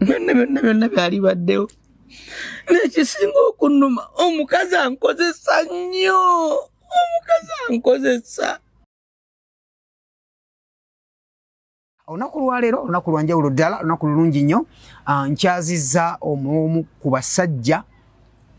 byonna byonna byonna byali baddewo nekisinga okunuma omukazi ankozesa nnyo omukazi ankozesa olunaku lwaleero olunaku lwanjawulo ddala olunaku lulungi nnyo ah, nkyaziza omuomu ku basajja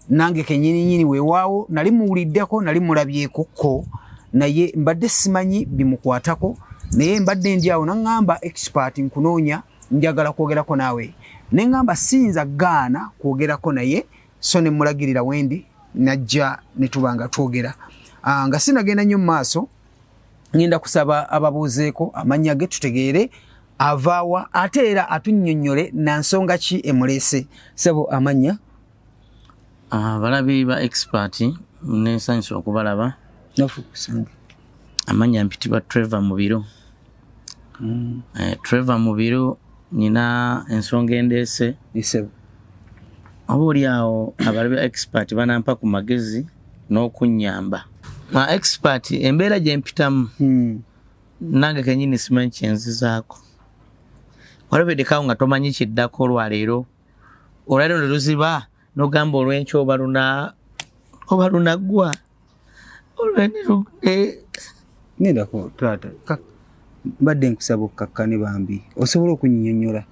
nange kenyininyini wewaawo nali muwuliddeko nali mulabyekokko naye mbadde simanyi bimukwatako naye mbadde ndi awo naŋŋamba expert nkunoonya njagala kwogerako naawe ne ŋŋamba siyinza gaana kwogerako naye so ne mmulagirira wendi najja ne tuba nga twogera ah, nga sinagenda nnyo mu maaso ŋenda kusaba ababuuzeeko amannya ge tutegeere avaawa ate era atunnyonnyole na nsonga ki emuleese sebo amannya abalabi ah, ba expert nesanyusa okubalaba amanya mpitibwa trevor mubiro mm. eh, trevor mubiro nina ensonga endeese oba oli awo abalabi expert banampa ku magezi n'okunyamba ma expert embeera gyempitamu mm. nange kenyini simanyi kyenzizaako walabeddekawo nga tomanyi kiddako olwaleero olwaliro ne luziba nogamba olwenkya oba luna oba lunaggwa olwenenedako eh, taata mbadde nkusaba okukakkane bambi osobola okunyinyonyola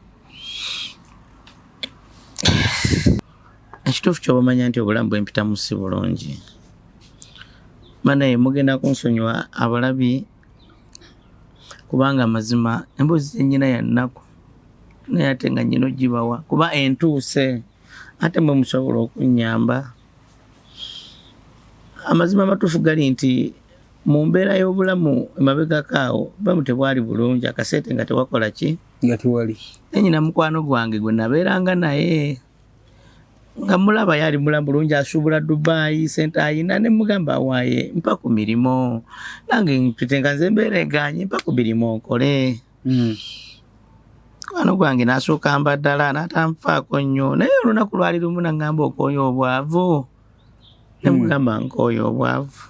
ekituufu kyobamanya nti obulamu bwempitamu si bulungi manaye mugenda kunsonyiwa abalabi kubanga amazima emboozi zenyina yannaku naye ate nga nyina ogibawa kuba entuuse ate mwe musobola okunyamba amazima amatuufu gali nti mu mbeera y'obulamu emabegako awo bamu tebwali bulungi akaseete nga tewakola ki nga tewali nanyina mukwano gwange gwe nabeeranga naye nga mulaba yali mulamu bulungi asuubula dubayi sente ayina ne mugamba waye mpa ku mirimu nange mpite nga nze mbeera eganye mpa ku mirimu nkole hmm. mukwano gwange nasooka mba ddala natanfaako nnyo naye olunaku lwali lumu naŋamba okwoyo obwavu nemugamba hmm. nkooyo obwavu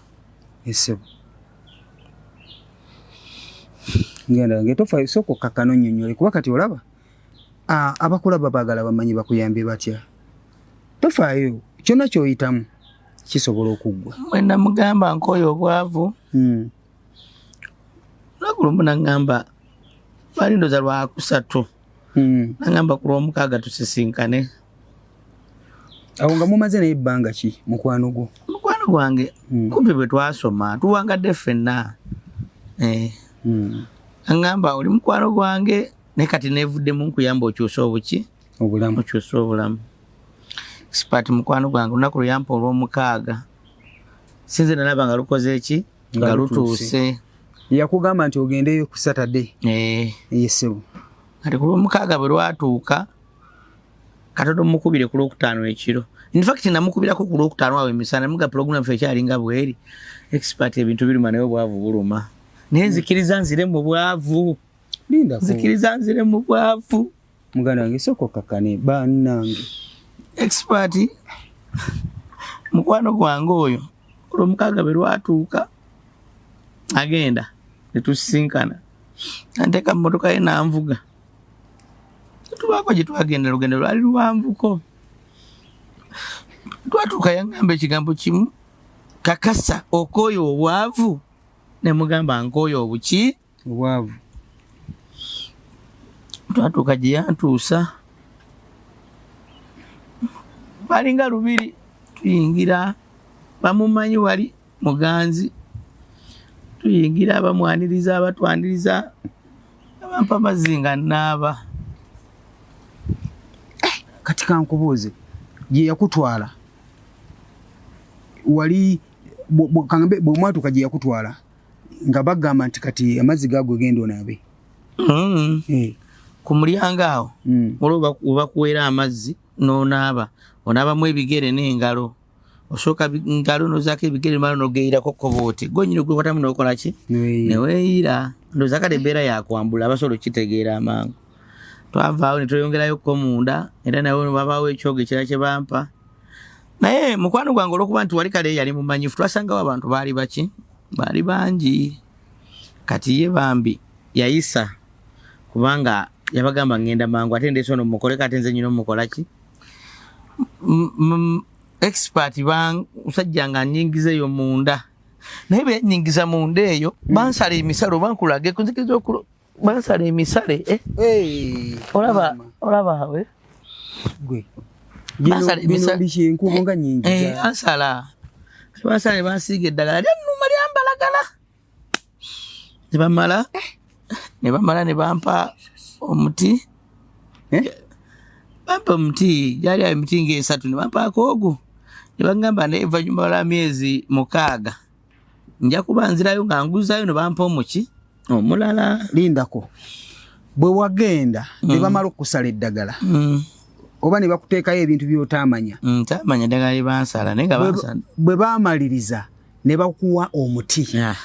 esebo ngenda ngetofa esooka okakana onyonyole kuba kati olaba abakulaba baagala bamanyi bakuyambye batya tofaayo kyonna kyoyitamu kisobola okuggwa mwena mugamba nkooyo obwavu hmm. lwagulumu nagamba lwali ndoza lwakusatu hmm. nagamba ku lwomukaaga tusisinkane awo nga mumaze naye ebbanga ki mukwano gwo mukwano gwange hmm. kumpi bwe twasoma tuwangadde ffenna eh. agamba oli mukwano gwange naye kati nevuddemu nkuyamba okyuse obuki obulamu okyuse obulamu sipati mukwano gwange olunaku luyampa olwomukaaga sinze nalaba nga lukoze eki nga lutuuse yakugamba nti ogendeyo ku satade eh. yesebo kati ku lwomukaaga bwe lwatuuka katodo mukubire ku lwokutaano ekiro infact namukubirako ku lwokutaano awo emisana muga pulogulamu fe ekyalinga bweri expert ebintu biruma naye obwavu buluma naye nzikiriza nzire mu bwavu Linda ko. Zikiriza nzire mu bwavu. Muganda wange soko kakane banange. Expert mukwano gwange oyo olwomukaga be lwatuuka agenda netusisinkana anteeka mu motoka ye nanvuga tubaako gye twagenda lugendo lwali luwanvuko twatuuka yangamba ekigambo kimu kakasa okooyo obwavu ne mugamba nkooyo obuki obwavu twatuuka gye yantuusa balinga lubiri tuyingira bamumanyi wali muganzi tuyingira abamwaniriza abatwaniriza abampa amazzi nga naaba eh, kati kankubuuze gye yakutwala wali bwomwatuuka gye yakutwala nga bagamba nti kati amazzi gago genda onaabe mm. eh. ku mulyango awo mm. olwo webakuweera amazzi n'onaaba onaabamu ebigere n'engalo osooka ngalo nozaako ebigere mala nogeyirako kobooti gonyini gwekwatamu nokola ki neweeyira ndoza kale embeera yakwambula abasobola okukitegeera amangu twavaawo netweyongerayo ko munda era nawe babaawo ekyogo ekira kye bampa naye mukwano gwange olwokuba nti wali kale yali mumanyifu twasangawo abantu baali baki baali bangi kati ye bambi yayisa kubanga yabagamba ngenda mangu ate ndeeta ono mukoleko ate nze nyina omukolaki expert bamusajja nga nyingiza eyo munda naye benyingiza munda eyo bansala emisalo bankulage kunzikiriza okulo bansala emisale eh? hey, olaba olaba awe gwe bansala emisale enkubo nga nyingi eh, ansala bansala ne bansiiga eddagala lyannuma lyambalagala ne bamala eh. ne bamala ne bampa omuti eh? bampa omuti gyali awo emiti ngaesatu ne bampaako ogwo ne bagamba ne evanyuma lwa myezi mukaaga nja kuba nzirayo nga nguzayo nebampa omuki omulala lindako bwe wagenda mm. ne bamala okusala eddagala mm. oba ne bakuteekayo ebintu byotaamanya mm, taamanya eddagala lye bansala naye nga bansala bwe baamaliriza ne bakuwa omuti yeah.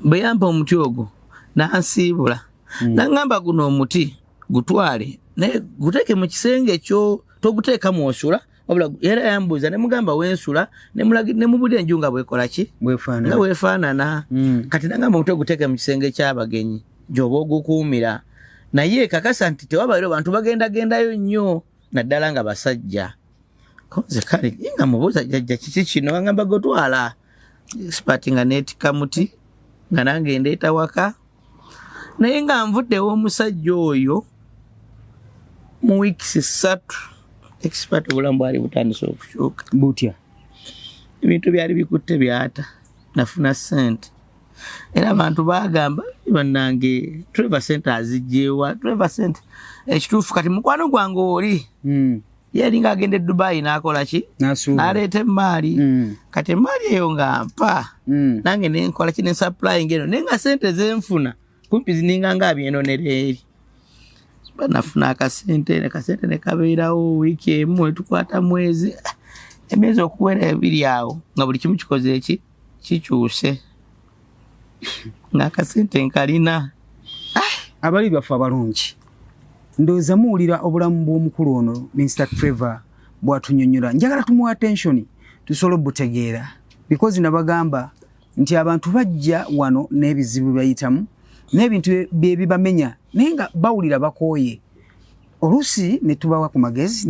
bwe yampa omuti ogwo nansiibula mm. nangamba guno omuti gutwale naye guteeke mu kisenge kyo toguteeka mwosula wabula era yambuuza ne mugamba wensula ne mubudde enju nga bwekola ki nga wefaanana mm. kati nagamba omutwe guteeke mu kisenge ky'abagenyi gyoba ogukuumira naye kakasa nti tewabairo bantu bagendagendayo nnyo naddala nga basajja konze kale nga mubuuza jajja kiki kino angamba gotwala sipati nga neetika muti nga nange ndeeta waka naye nga nvuddewo omusajja oyo mu weeks ssatu ekisipati obulamu bwali butandise okukyuka butya ebintu byali bikutte byata nafuna sente era abantu bagamba banange treva sente azijjeewa treva sente ekituufu kati mukwano gwange oli hmm. yali nga agenda edubayi nakola ki naleeta emaali mm. kati emaali eyo nga mpa mm. nange nenkola ki nesupplying eno naye nga sente zenfuna kumpi zininga nga abyenonereeri eri banafuna akasente nekasente nekabeerawo wiiki emu etukwata mwezi emyezi okuwera ebiri awo nga buli kimu kikoze eki kikyuse ng'akasente nkalina abali baffe abalungi ndowooza muwulira obulamu bw'omukulu ono minisita trevor bwatunyonyola njagala tumuwa attention tusobola obutegeera because nabagamba nti abantu bajja wano n'ebizibu bayitamu n'ebintu byebibamenya naye nga bawulira bakooye oluusi netubawa ku magezi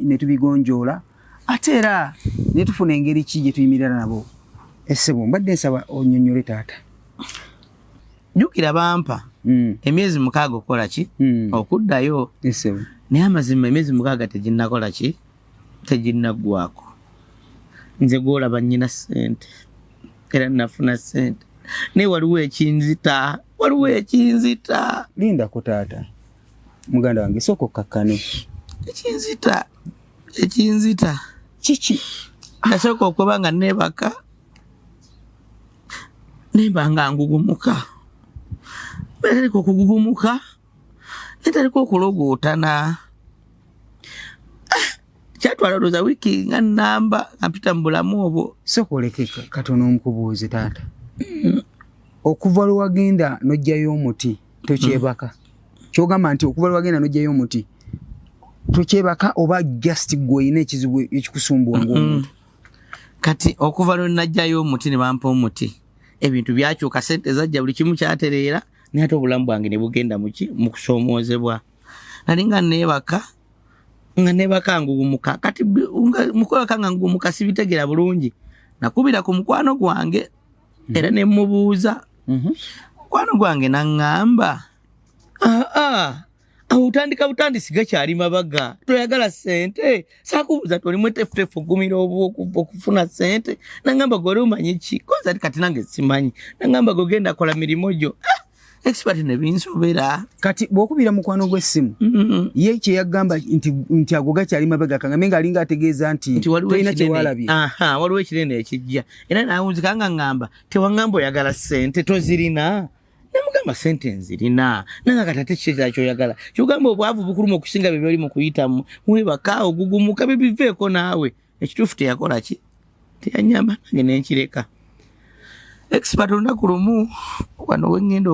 netubigonjoola ate era ne tufuna engeri ki gye tuyimirira nabo essebo eh, mbadde nsaba onyonyole taata jukira bampa mm. emyezi mukaaga okukola ki mm. okuddayo essebo eh, naye amazima emyezi mukaaga teginnakola ki teginnaggwako nze gwolaba nyina sente era nafuna sente naye waliwo ekinzita waliwo ekinzita lindako taata muganda wange sooka okkakkane ekinzita ekinzita kiki nasooka okuba nga neebaka nemba nga ngugumuka bwetalika okugugumuka netalika okulogootana ah, kyatwala olowooza wiiki nga namba ampita mu bulamu obwo sooka oleke katono omukubuuzi taata mm. okuva lwe wagenda n'ojjayo omuti tokyebaka hmm. kyogamba nti okuva lwagenda nojjayo omuti tokyebaka oba just gwe olina ekizibu ekikusumbuwa hmm. ngaomuntu kati okuva lwe najjayo omuti ne bampa omuti ebintu byakyuka sente zajja buli kimu kyatereera naye ate obulamu bwange ne bugenda muki mu kusoomoozebwa nali nga neebaka nga neebaka nguwumuka kati mukwebaka nga nguwumuka sibitegeera bulungi nakubira ku mukwano gwange era ne mmubuuza mhm. mukwano gwange naŋŋamba aa awo otandika butandisi gakyali mabaga toyagala sente sakubuuza ti olimu etefutefu ogumira okufuna sente naŋŋamba gwe oli omanyi ki koza ti kati nange simanyi naŋŋamba gwe genda kola mirimu gyo ah! expert ne binsobera kati bwokubira mukwano gwe simu mm -hmm. ye kye yagamba nti nti agoga kyali mabega kanga menga alinga ategeeza nti tolina kye walabi aha waliwo ekirene ekijja era nawunzi kanga ngamba tewangambo yagala sente tozirina namugamba sente nzirina nanga katate kikyekyala kyoyagala kyogamba obwavu bukuluma okusinga bye byoli mukuyitamu mwebaka ogugumuka bye biveeko naawe ekituufu teyakola ki teyanyamba nange nenkireka expert olunaku lumu wano wengenda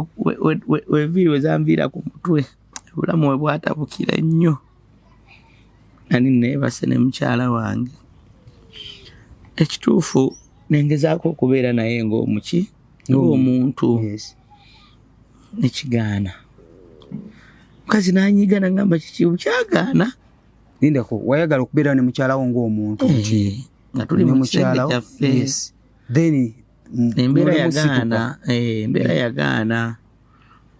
weviiri wezanviira ku mutwe obulamu we bwatabukira ennyo nani neebase ne mukyala wange ekituufu nengezaako okubeera naye ngaomuki ngaomuntu mm. nekigaana mukazi nanyiga nagamba kikibu kyagaana lindako wayagala okubeera ne mukyalawo ng'omuntu eh, nti nga tuli mu kisenge kyaffe then embeera yagaana eh, embeera yagaana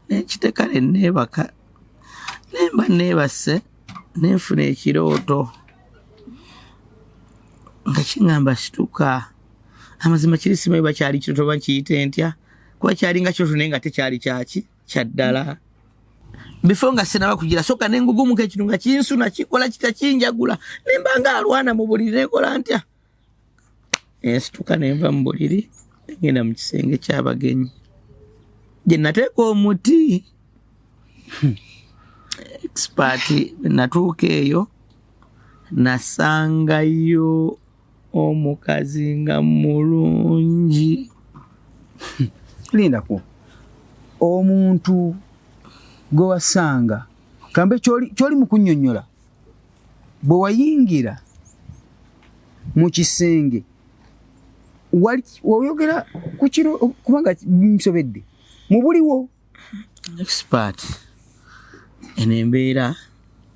nekiteka ne neebaka nemba neebase nenfuna ekirooto nga kiŋamba situka amazima kiri simanyi bakyali kirooto bakiyite ntya kuba kyali nga kirooto naye nga tekyali kyaki kyaddala bifo nga sinaba kugira soka nengugumuka ekintu nga kinsuna kikola kita kinjagula nemba nga alwana mu buliri nekola ntya ensituka nenva mu buliri ngenda mu kisenge kyabagenyi gye nateeka omuti hmm. expert natuuka eyo nasangayo omukazi nga mulungi lindako omuntu gwe wasanga kambe kyoli mu kunyonyola bwe wayingira mu kisenge oyogera ku kiro kubanga nsobedde mu buliwo expert eno embeera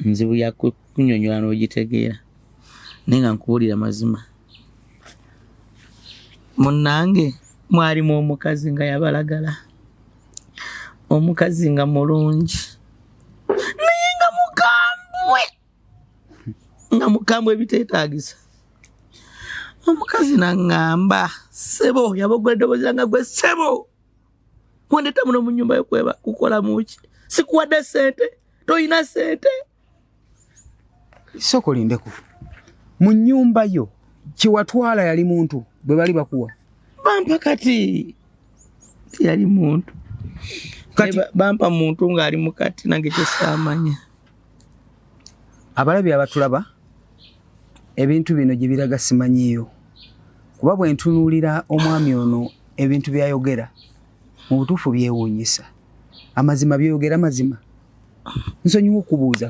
nzibu yakunyonyola n'ogitegeera naye nga nkubuulira mazima munnange mwalimu omukazi nga yabalagala omukazi nga mulungi naye nga mukambwe nga mukambwe ebiteetaagisa omukazi naŋŋamba ssebo yaboggwa eddoboozi langa gwe ssebo Wandeta muno mu nyumba yokweba kukola muki? Sikuwadde sente, toyina sente. Soko lindeko. Mu nyumba yo kiwatwala yali muntu bwe bali bakuwa. Bampa kati. Yali muntu. Kati bampa muntu ngali mukati nange kyesamanya. abalabi abatulaba ebintu bino gye biraga simanyiyo kuba bwe ntunuulira omwami ono ebintu byayogera mu butuufu byewuunyisa amazima byoyogera mazima nsonyiwa okubuuza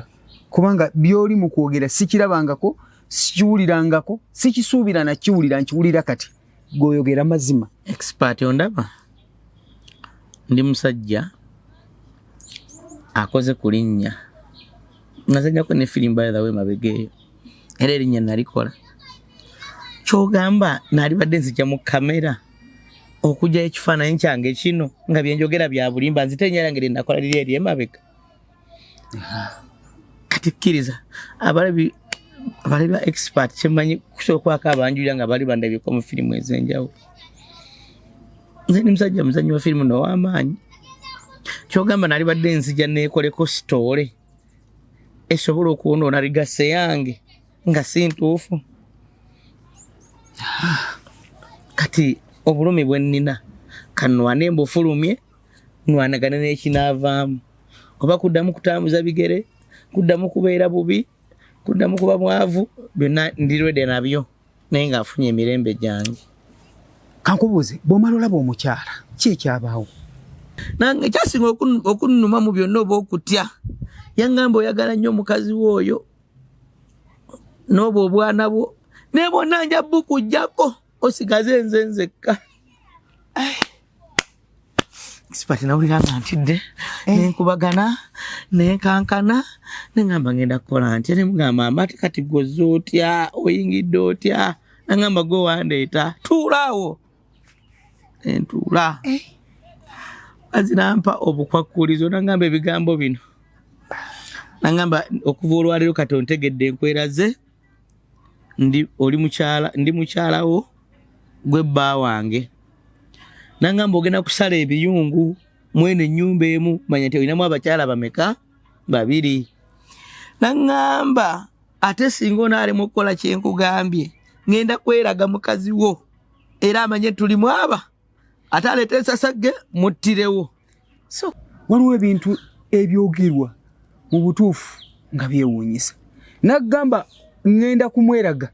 kubanga byoli mu kwogera sikirabangako sikiwulirangako sikisuubira nakiwulira nkiwulira kati goyogera mazima expert ondaba ndi musajja akoze ku linnya nazanyako ne firimu by the way mabega eyo era erinnya nalikola kyogamba nalibadde nzija mu kamera okugyayo ekifaananyi kyange kino nga byenjogera bya bulimba nzite enyo era ngeri nakola liri eri emabega kati kkiriza abalabi abali ba expert kyemanyi kusookwako abanjulira nga bali bandabyeko mu firimu ez'enjawulo nze ni musajja muzanyi wa firimu now'amaanyi kyogamba nali badde nzija neekoleko sitoole esobola okwonoona ligase yange nga si ntuufu kati obulumi bwe nnina kanwane mbufulumye nwanagane n'ekinaavaamu oba kuddamu kutambuza bigere kuddamu kubeera bubi kuddamu kuba mwavu byonna ndirwede nabyo naye ng'afunye emirembe gyange kankubuuze bw'omala olaba omukyala ki ekyabaawo nange kyasinga okunnuma mu byonna oba okutya yangamba oyagala nnyo omukazi we oyo n'obwo obwana bwo naye bwonna nja bukujjako osigaze nze nzekka sipati nawulira nga ntidde eh. nenkubagana nenkankana nengamba ngenda kukola ntya nemugamba mbati kati gwoza otya oyingidde otya nangamba gwe wandeeta tuulaawo nentuula eh. azinampa obukwakkulizo nangamba ebigambo bino nangamba okuva olwaleero kati ontegedde enkweraze ndi oli mukyala ndi mukyalawo gwe bba wange nangamba ogenda kusala ebiyungu mwene enyumba emu manya nti olinamu abakyala bameka babiri nangamba ate singa onaalemu okukola kyenkugambye ngenda kweraga mukazi wo era amanye tuli mwaba ate aleeta ensasagge muttirewo so waliwo ebintu ebyogerwa mu butuufu nga byewuunyisa nagamba ŋŋenda kumweraga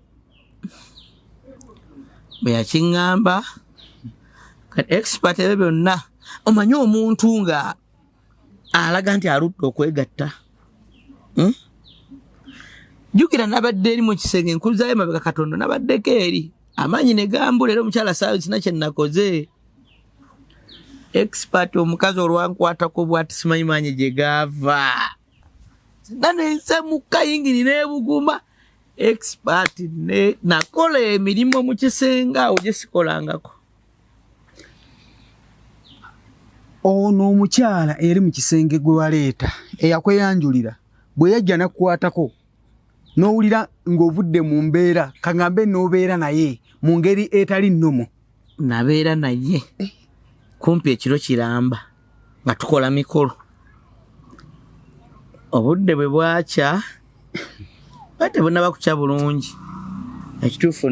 bwe yakiŋŋamba kati expert ebyo byonna omanyi omuntu nga alaga nti aludde okwegatta hmm? jukira nabadde eri mu kisenge nkuzayo mabega katonda nabaddeko eri amaanyi ne gambula era omukyala saawe sina kye nakoze expert omukazi olwankwatako bwati simanyi maanyi gye gaava nanensemuka yingini nebuguma expert nakola emirimu mu kisenge awo gye sikolangako ono omukyala eri mu kisenge gwe waleeta eyakweyanjulira bwe yajja nakukwatako n'owulira ng'ovudde mu mbeera kagambe n'obeera naye mu ngeri etali nnomo nabeera naye kumpi ekiro kiramba nga tukola mikolo obudde bwe bwakya ba tebunaba kukya bulungi ekituufu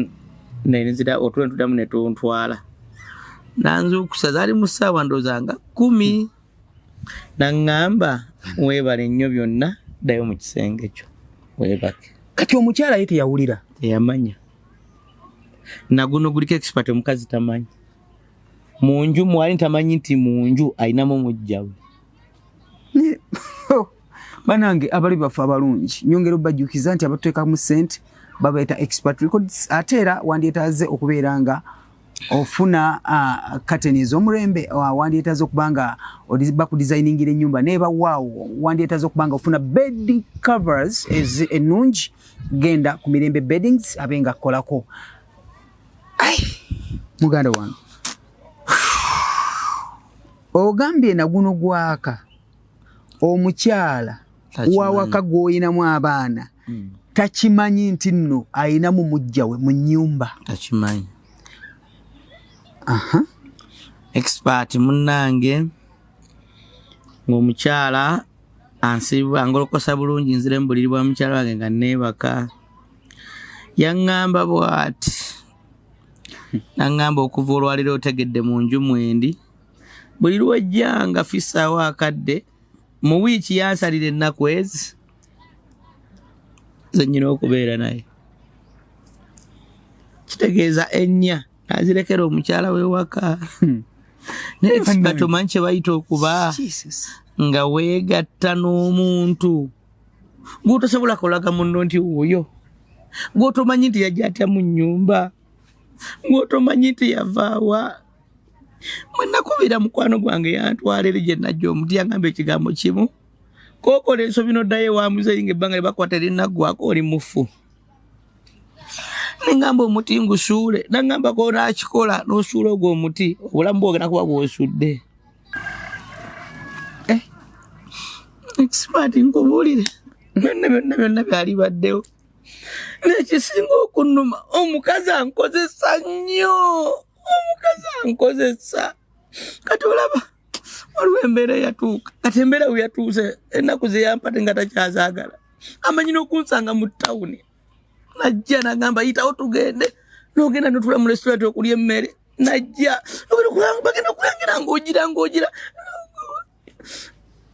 nenzira otulo netudamu netuntwala nanzuukusa zaali mu ssaawa ndooza nga kumi naŋŋamba weebale nnyo byonna ddayo mu kisenge kyo weebake kati omukyala ye teyawulira teyamanya naguno guliko expert omukazi tamanyi munju mwali ntamanyi nti munju ayinamu mujjawe oh, banange abali baffe abalungi nyongera obajukiza nti abatuteka mu sente babeeta expert records ate era wandyetaze okubeera nga ofuna kateni uh, ez'omulembe uh, wandyetaze okuba nga bakudesigningira enyumba naye bawaawo wandyetaze okuba nga ofuna bed covers ennungi genda ku mirembe beddings abe nga kukolako ai muganda wange ogambye na guno gwaka omukyala wawaka gwolinamu abaana hmm. takimanyi nti nno alinamu mujja we mu nyumba takimanyi aha expert munnange ng'omukyala ansiba ngolokosa bulungi nzire mu buliri bwa mukyala wange nga neebaka yaŋŋamba bw'ati naŋŋamba okuva olwaliro otegedde mu nju mwendi buli lwojjanga fissaawo akadde mu wiiki yansalira ennaku ezi zenyina okubeera naye kitegeeza ennya nazirekera omukyala wewaka hmm. naye katomanyi kyebayita okuba nga weegatta n'omuntu gwotosobola kolaga munno nti wuyo gwotomanyi nti yajja atya mu nyumba gwotomanyi nti yavaawa mwenakubira mukwano gwange yantwala eri gyenajja omuti yangamba ekigambo kimu kokola ensobi noddayo ewa muzeeyi nga ebbanga lyebakwata erinnaggwako oli mufu nengamba omuti ngusuule nangamba konakikola nosuula ogwo omuti obulamu bwogenda kuba bwosudde eh, expert nkubuulire byonna byonna byonna byali baddewo nekisinga okunuma omukazi ankozesa nnyo omukazi ankozesa kati olaba waliwo embeera eyatuuka kati embeera we yatuuse ennaku zeyampate nga takyazaagala amanyi n'okunsanga mu tawuni najja nagamba yitawo tugende nogenda notula mu restaurant okulya emmere najja bagenda okulangira ngaogira ngaogira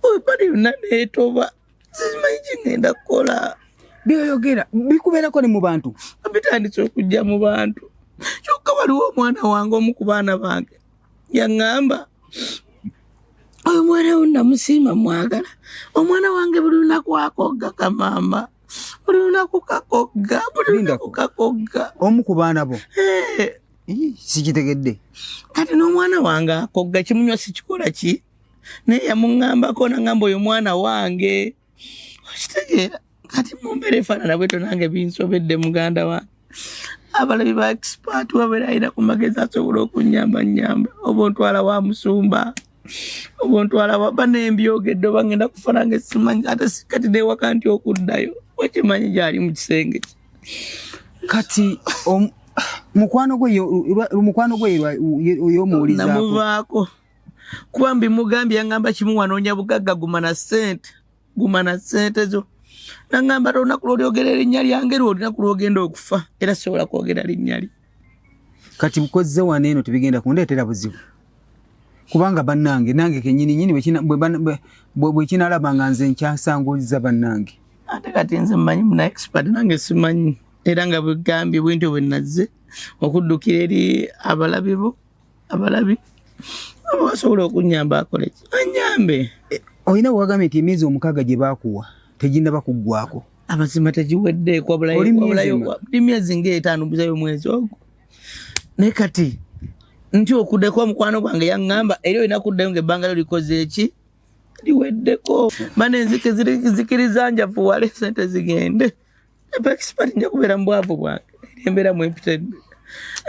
webali yonna neetoba sizimanyi kigenda kukola byoyogera bikubeerako ne mu bantu bitandise okujja mu bantu kyokka waliwo omwana wange omu ku baana bange yaŋŋamba oyo omwana wo namusiima mwagala omwana wange buli lunaku akogga kamaama buli lunaku kakogga buli lunaku kakogga omu ku baana bo eh. sikitegedde kati n'omwana wange akogga kimunywa sikikola ki naye yamuŋambako naŋamba oyo mwana wange okitegeera kati mumbeera efaanana bweto nange binsobedde muganda wange abalabi ba expat wabeera alina ku magezi asobola okunyamba nyamba oba ontwala wa musumba obuntu alaba ba nembyogedde oba ngenda kufa nange simanyi ate kati newaka nti okuddayo wakimanyi gyali mu kisenge ki kati mukwano gwe mukwano gwe oyomuwulizamuvaako kuba mbimugambye yangamba kimu wanoonya bugagga guma na sente guma na sente zo nangamba te olunaku lwolyogera erinnya lyange lwe olunaku lwogenda okufa era sisobola kwogera linnya lye kati mukozze wano eno tebigenda kundeetera buzibu kubanga bannange nange kenyini nyini bwekinalaba nga nze nkyasanguliza bannange ate kati nze mmanyi muna expert nange simanyi era nga bwegambye bwentyo bwenazze okuddukira eri abalabibo abalabi aba basobola okunyamba akoleki anyambe eh, olina wagambye nti emyezi omukaaga gye baakuwa teginaba kuggwako amazima tegiwedde kwabulayooli myezi ngaetaano buzayo omwezi ogwo naye kati nti okuddeko mukwano gwange yaŋŋamba era olina kuddayo nga ebbanga lyo likoze eki liweddeko bana enzike zikiriza njafuwale sente zigende njakubeera mu bwavu bwange embeera mwempitadde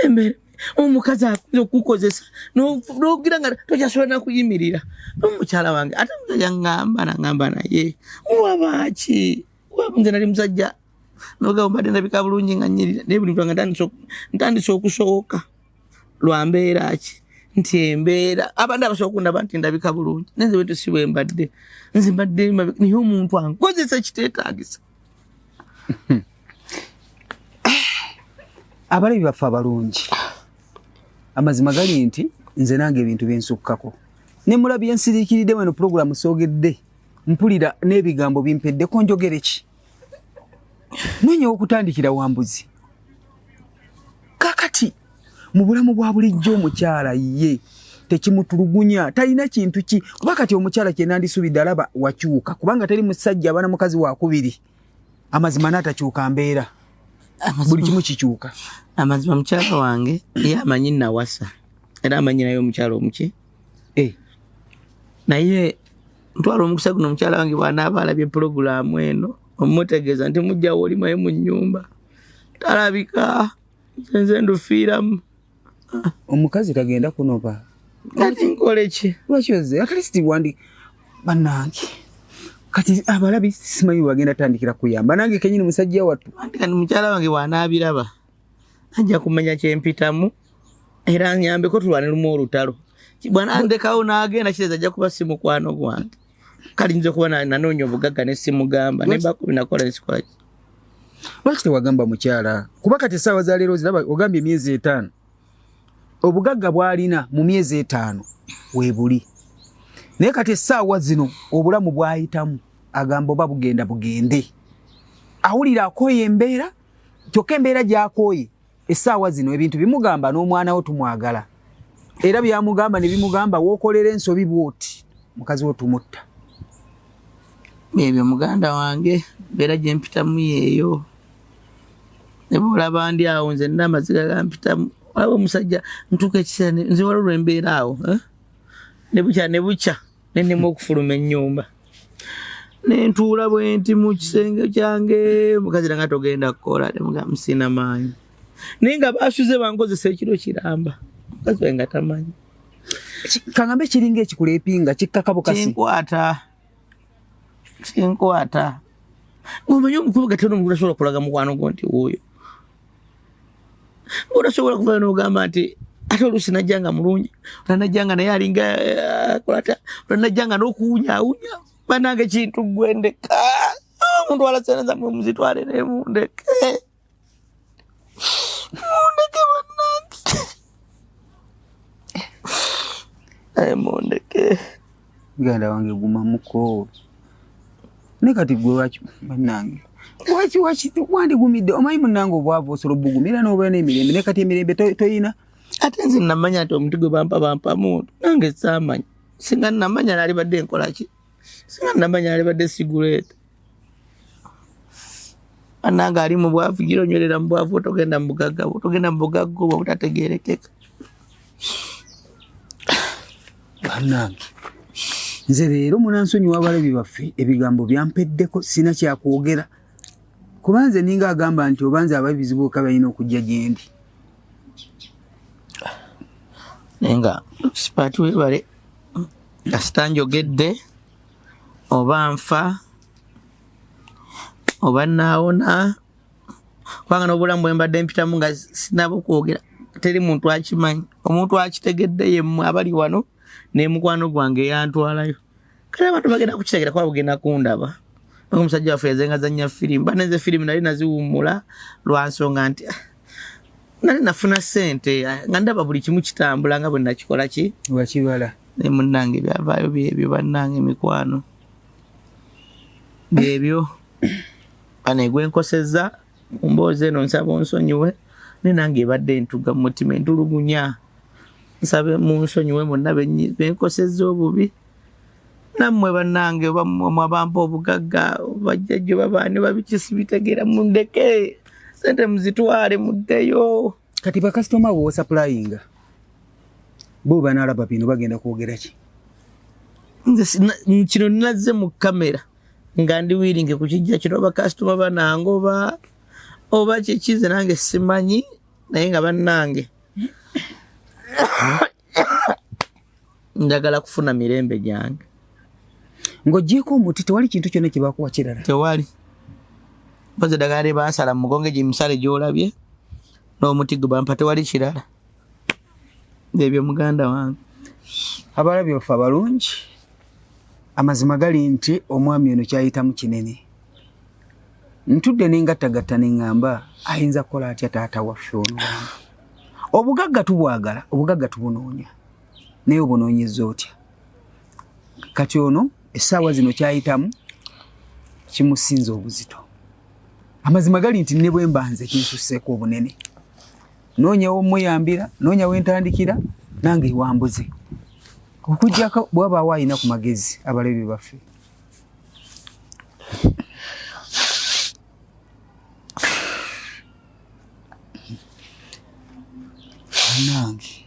embeera omukazi akuza okukozesa nogira nga tokyasobola nakuyimirira nomukyala wange ate musajja ngamba nangamba naye wabaaki nze nali musajja nogamba mbadde ndabika bulungi nga nyirira naye buli mutanga ntandise okusooka lwambeera ki nti embeera abadde abasobola okundaba nti ndabika bulungi nenze wetu si bwembadde nze mbadde naye omuntu ankozesa ekiteetagisa abalabi baffe abalungi amazima gali nti nze nange ebintu byensukkako ne mulabi yensiriikiridde weno pulogulaamu soogedde mpulira n'ebigambo bimpeddeko njogereki nonyewo okutandikira wambuzi kakati mu bulamu bwa bulijjo omukyala ye tekimutulugunya talina kintu ki kuba kati omukyala kyenandisubidde alaba wakyuka kubanga teri musajja abana mukazi wakubiri amazima natakyuka mbeera buli kimu kikyuka amazima mukyala wange ye amanyi nawasa era amanyi naye omukyala omuki eh. naye ntwala omukisa guno omukyala wange bwanaaba alabye pulogulaamu eno omutegeeza nti mujjawo olimaye mu nyumba talabika nze ndufiiramu omukazi kagenda kunoba kati nkole ki lwaki oze at least wandi banange kati abalabi simanyi bagenda tandikira kuyamba nange kenyini musajja wattu anti kati mukyala wange bwanaabiraba ajja kumanya kyempitamu era nyambeko tulwane lumu olutalo bwana andekawo n'agenda kireza ajja kuba si mukwano gwange kali nze kuba nanoonya obugagga ne simugamba naye bakumi nakola nesikolaki lwaki tewagamba mukyala kuba kati esaawa za leero ziraba ogambye emyezi etaano obugagga bwalina mu myezi etaano webuli naye kati esaawa zino obulamu bwayitamu agamba oba bugenda bugende awulira akooye embeera kyokka embeera gyakooye essaawa zino ebintu bimugamba n'omwana wo tumwagala era byamugamba ne bimugamba wookolera ensobi bwoti mukazi wo tumutta ebyo muganda wange mbeera gye mpitamu yeeyo ne bwolaba ndi awo nze nina amaziga gampitamu olaba omusajja ntuuka ekiseera nze waliwo lwembeera awo eh? ne bukya ne bukya nenema okufuluma ennyumba nentuula bwenti mu kisenge kyange mukazi nanga togenda kukola nemugamusina maanyi naye nga basuze bankozesa ekiro kiramba mukazi wae nga tamanyi kangambe kiringa ekikulepinga kikkakabukasikinkwata kinkwata omanyi omukulu gatera omukulu asobola kulaga mukwano gwo nti wuuyo Orasobola kuvayo n'ogamba nti ate oluusi najja nga mulungi olanajja nga naye alinga eh, kolata olanajja nga n'okuwunyawunya banange kintu gwendeka omuntu ah, alaseneza mwe muzitwale ne mundeke mundeke banange eh, mundeke muganda wange guma mukoowe ne kati gwe waki banange waki waki wandigumidde omanyi munange obwavu osobola obugumira nobeera n'emirembe ne kati emirembe toyina ate nze namanya nti omuntu gwe bampa bampa muntu nange saamanya singa namanya nalibadde nkolaki singa namanya nalibadde siguleeta anange ali mu bwavu gira onywerera mu bwavu otogenda mu bugagga bwo otogenda mu bugagga obwo obutategerekeka banange nze leero munansonyi wabalabi baffe ebigambo byampeddeko sina kyakwogera kuba nze ninga agamba nti oba nze aba bizibu oka balina okujja gyendi naye nga sipaati webale kasita njogedde oba nfa oba naawona kubanga n'obulamu bwe mbadde mpitamu nga sinaba okwogera teri muntu akimanyi omuntu akitegedde yemmwe abali wano nemukwano gwange yantwalayo kale abantu bagenda kukitegera kuba bugenda kundaba omusajja waffe yazengazanya firimu banenze firimu nali naziwummula lwansonga nti ah, nali nafuna sente nga ndaba buli kimu kitambula nga bwe nakikola ki wakibala naye munnange byavaayo byebyo bannange emikwano byebyo anegwe nkosezza mumboozi eno nsaba onsonyiwe naye nange ebadde entuga mu mutima entulugunya nsabe munsonyiwe monna benkosezza obubi be nammwe bannange oba mwe abampa obugagga bajjajjo babaani babikisi bitegeera mundeke sente muzitwale muddeyo kati bakasitoma bo osapulayinga bo banaalaba bino bagenda kwogera ki nze kino nazze mu kamera nga ndi wiringe ku kijja kino bakasitoma banange oba oba kyekize nange simanyi naye nga bannange njagala kufuna mirembe gyange ng'ogyeko omuti tewali kintu kyonna kyebakuwa kirala tewali mpozi eddagala lyebansala mumugongo egyo emisale gyolabye n'omuti gwe bampa tewali kirala ebyo muganda wange abalabye bafe abalungi amazima gali nti omwami ono kyayitamu kinene ntudde nengattagatta ne ŋŋamba ayinza kukola atya taata waffe ono obugagga tubwagala obugagga tubunoonya naye obunoonyeza otya kati ono essaawa zino kyayitamu kimusinza obuzito amazima gali nti ne bwe mbanze kinsusseeko obunene noonya womuyambira noonya wentandikira nange ewambuze okujjako bwabaawo alina ku magezi abalabi baffe banange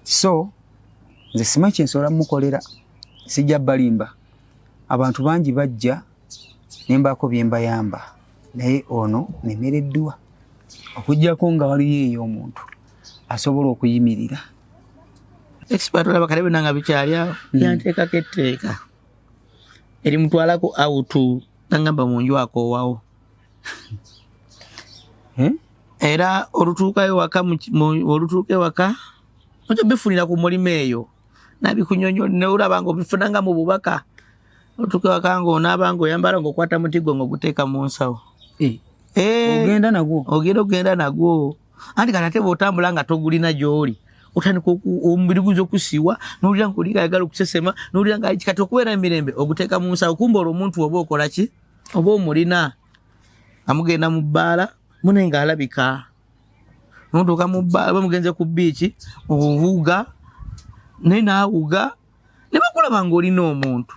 so nze simanyi kyensobola mukolera sijja balimba abantu bangi bajja nembaako byembayamba naye ono nemereddwa okujjako nga waliyo eyo omuntu asobola okuyimirira ekisibatulaba kale bina nga bikyalyawo hmm. yanteekako etteeka elimutwalako autu nangamba munju akowawo hmm? era olutuukayo waka olutuuka ewaka oja bifunira ku mulimu eyo nabikunyonyo neolaba nga obifuna nga mu bubaka olutuuka ewaka nga onaaba nga oyambala nga okwata muti gwe nga oguteeka mu nsawo eh. Eh. ogenda nagwo ogenda ogenda nagwo anti kati ate bwotambula nga togulina gyoli otandika omubiri guyinza okusiiwa nowulira nga oliga ayagala okusesema nowulira nga ali kati okubeera emirembe oguteeka mu nsawo kumba olwo omuntu oba okola ki oba omulina amugenda mu bbaala mune nga alabika notuuka mu bbaala oba mugenze ku biiki owuga naye naawuga ne bakulaba nga olina omuntu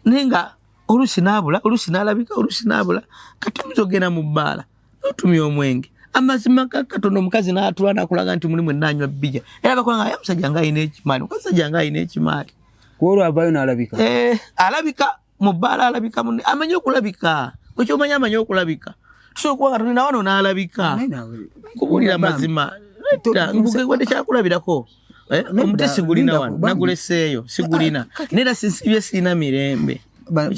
naye nga oluusi naabula oluusi naalabika oluusi naabula kati oyinza okugenda mu bbaala notumya omwenge amazima gakatono omukazi natula nakulaga nti mulimu enanywa bija era bakola nga musajja nga alina ekimaali mukazi sajja nga alina ekimaali kwolwo avayo nalabika eh, alabika mu bbaala alabika mune amanyi okulabika okyomanya amanyi okulabika tusobola okuba nga tulina wano nalabika kubulira mazima wadde kyakulabirako Eh, omuti sigulina wano naguleseeyo sigulina ah, nera sisibye sirina mirembe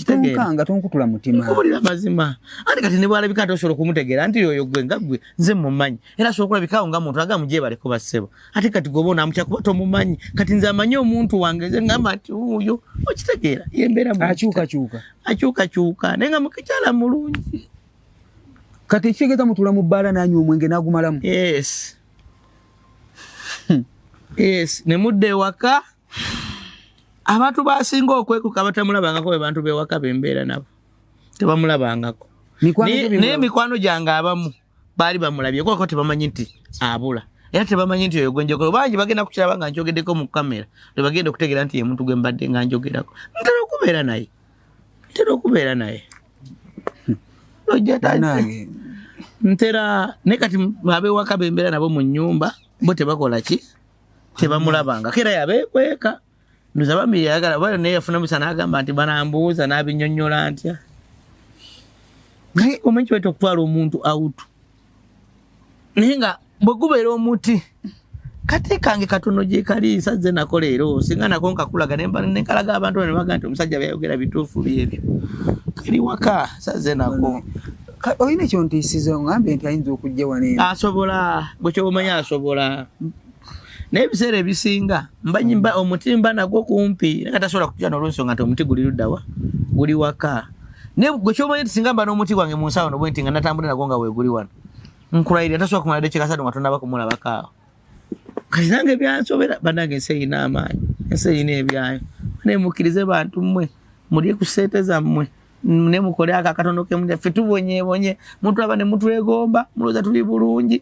tonkanga tonkutula mutima kubulira mazima andi kati nebwalabika nti osobola okumutegeera nti yoyo gwe nga gwe nze mumanyi era asobola okulabikawo nga muntu aga mujebaleko bassebo ate kati goba onamutya kuba tomumanyi kati nze amanyi omuntu wange nze ngamba nti uyo okitegeera yembeeramuakyukakyuka akyukakyuka naye nga mukikyala mulungi kati ekitegeeza mutula mu bbaala nanywa omwenge nagumalamu yes yes ne mudda ewaka abantu basinga okwekuka batamulabangako be bantu bewaka bembeera nabo tebamulabangako naye mikwano gyange abamu baali bamulabye kwako tebamanyi nti abula era tebamanyi nti oyo gwenjogera bangi bagenda kukiraba nga njogeddeko mu kamera lwe bagenda okutegeera nti ye muntu gwe mbadde nga njogerako ntera okubeera naye ntera okubeera naye nange ntera naye kati abewaka bembeera nabo mu nyumba bo tebakola ki tebamulabangako era yabekweka ndoza bambi yayagala bali naye yafuna musa nagamba nti banambuuza nabinyonyola ntya naye omanyi kiweta okutwala omuntu awutu naye nga bwe gubeera omuti kati kange katono gye kali sazze nako leero singa nako nkakulaga nenkalaga abantu ne baga nti omusajja byayogera bituufu byebyo kali waka sazze nako olina ekyontiisiza ongambye nti ayinza okujja waneeno asobola bwekyoba omanya asobola naye ebiseera ebisinga mbanyimba omuti mba nagwo kumpi naye nga tasobola kutya nolwensonga nti omuti guli luddawa guli waka naye gwe kyomanyi nti singa mba n'omuti gwange mu nsawo no bwenti nga natambula nagwo nga weguli wano nkulayirira tasobola kumala dekyekasatu nga tonaba kumulabako awo kati nange byansobera banange ensi erina amaanyi ensi erina ebyayo naye mukkirize bantu mmwe mulye ku ssente zammwe ne mukole ako akatono kemuffe tubonyebonye mutulaba ne mutwegomba mulowooza tuli bulungi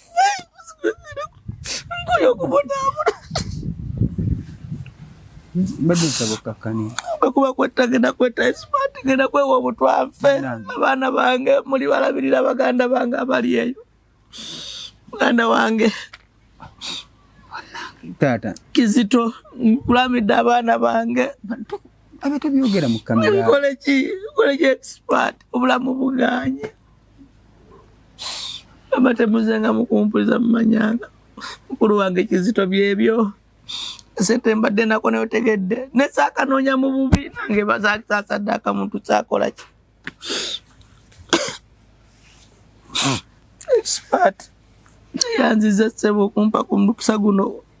bado nsaba okukakkanira bwekuba kwetta genda kwetta esimaati genda kwewa obutwafe abaana bange muli balabirira baganda bange abali eyo muganda wange taata kizito nkulamidde abaana bange abatebyogera mu kamera kole ki kole ki esimaati obulamu buganye abatemuzenga mukumpuliza mumanyanga mukulu wange kizito byebyo sente mbadde nako nayo tegedde nesakanoonya mu bubi nange bazakisasadde akamuntu kyakola ki expert yanziza ssebo okumpa ku mukisa guno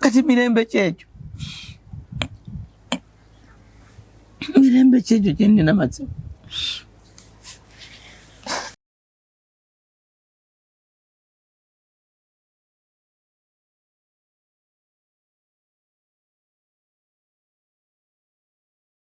kati mirembe kyekyo mirembe kyekyo kyenina matsiko